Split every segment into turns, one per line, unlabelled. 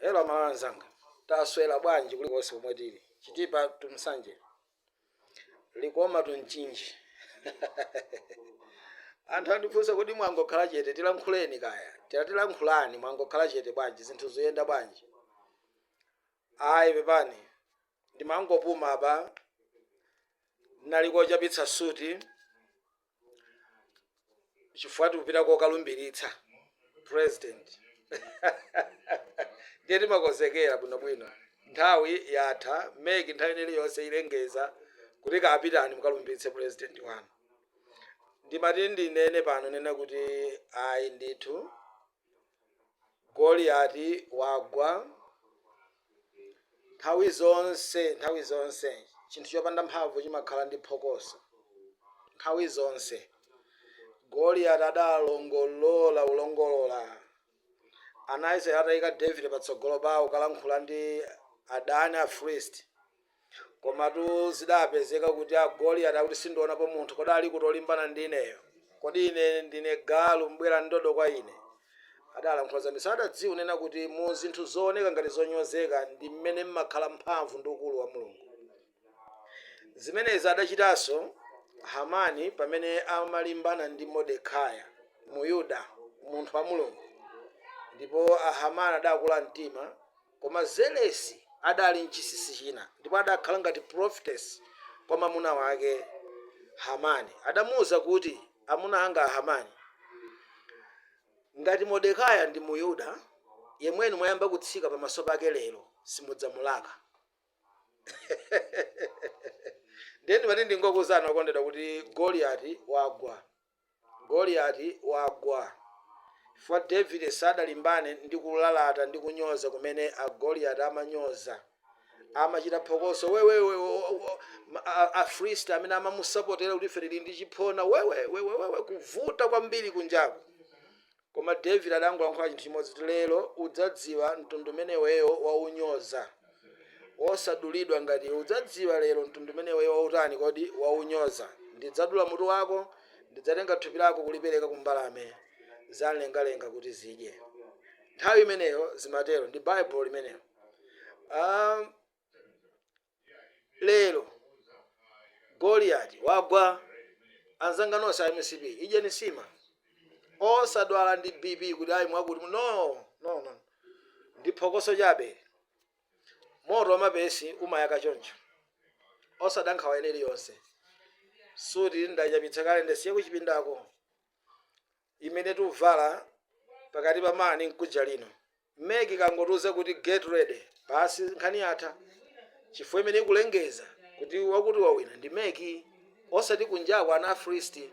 Hello Malawi anzanga, taswera bwanji kulikonse komwe tili? Chitipa to Nsanje, Likoma to Mchinji. Anthu andifunsa kuti mwangokhala chete, tilankhuleni kaya. Tira tilankhulani, mwangokhala chete bwanji, zinthu zoyenda bwanji? Ayi, pepani. Ndimangopuma apa. Nnali kochapitsa suti chifukwa tikupita kokalumbiritsa president. Ndiye timakonzekera bwinobwino. Nthawi yatha, MEC nthawi ina iliyonse ilengeza kuti kapitani mukalumbiritse president wanu. Ndimati ndinene pano nena kuti ayi ndithu Goliati wagwa. Nthawi zonse, nthawi zonse, chinthu chopanda mphamvu chimakhala ndi phokoso. Nthawi zonse. Goliati adalongolola, ulongolola. Ana a Israeli atayika Davide patsogolo pawo kalankhula ndi adani, Afilisti. Komatu zidapezeka kuti a Goliati akuti sindionapo munthu, kodi alikuti olimbana ndi ineyo? Kodi ine ndine galu mubwera ndi ndodo kwa ine? Adalankhula zambiri. Sadadziwe kunena kuti mu zinthu zooneka ngati zonyozeka ndi mmene mmakhala mphamvu ndi ukulu wa Mulungu. Zimenezi adachitanso Hamani pamene amalimbana ndi Modekaya, Muyuda, munthu wa Mulungu. Ndipo Ahamani adakula mtima Koma Zelesi adali m'chisisi china, ndipo adakhala ngati prophetess kwa mamuna wake Hamani. Adamuuza kuti, Amuna anga a Hamani, ngati Modekaya ndi Muyuda, yemwe inu mwayamba kutsika pamaso pake lero, simudzamulaka. Ndiye ndimati ndingokuuzani okondedwa kuti Goliyati wagwa. Goliati wagwa. Chifukwa Davide sadalimbane ndi kulalata ndi kunyoza kumene a Goliati amanyoza. Amachita phokoso, wewe, wewe, o, o, o, ma- a- a- Afilisti amene amamusapotera kuti ife tili ndi chiphona, wewe, wewe, wewe, kuvuta kwambiri kunjaku. Koma David adangolankhula chinthu chimodzi kuti lero udzadziwa mtundu umene iweyo waunyoza. Wosadulidwa ngati iwe. Udzadziwa lero mtundu umene iweyo wautani kodi? Waunyoza. Ndidzadula mutu wako, ndidzatenga thupi lako kulipereka ku mbalame zamlengalenga kuti zidye. Nthawi imeneyo zimatero. Ndi Baibulo limenelo. Aaa! lero goliati wagwa anzanga nonse a mcp idyeni sima osadwala ndi bp kuti ayi mwakuti mu- no no no ndi phokoso chabe moto wamapesi umayaka choncho osada nkhawa ina iliyonse suti ndachapitsa kale ndasiya kuchipindako imene tuvala pakati pa mlungu nkuja lino mec ikangotiuza kuti get ready basi nkhani yatha chifukwa amene akulengeza kuti wakuti wawina ndi mec osati kunjako ana afilisiti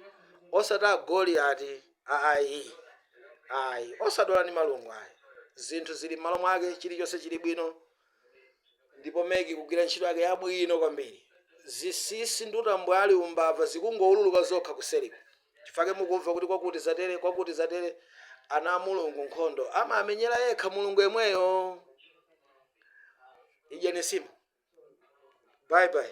osati agoliati ayi ayi osadwala ndi malungo ayi zinthu zili m'malo mwake chilichonse chili bwino ndipo mec ikugwira ntchito yake yabwino kwambiri zisisi ndi utambwali umbava zikungoululuka zokha kuseriku chifukwa chake mukumva kuti kwakuti zatere kwakuti zatere ana amulungu nkhondo amamenyera yekha mulungu yemweyo idyeni sima bye bye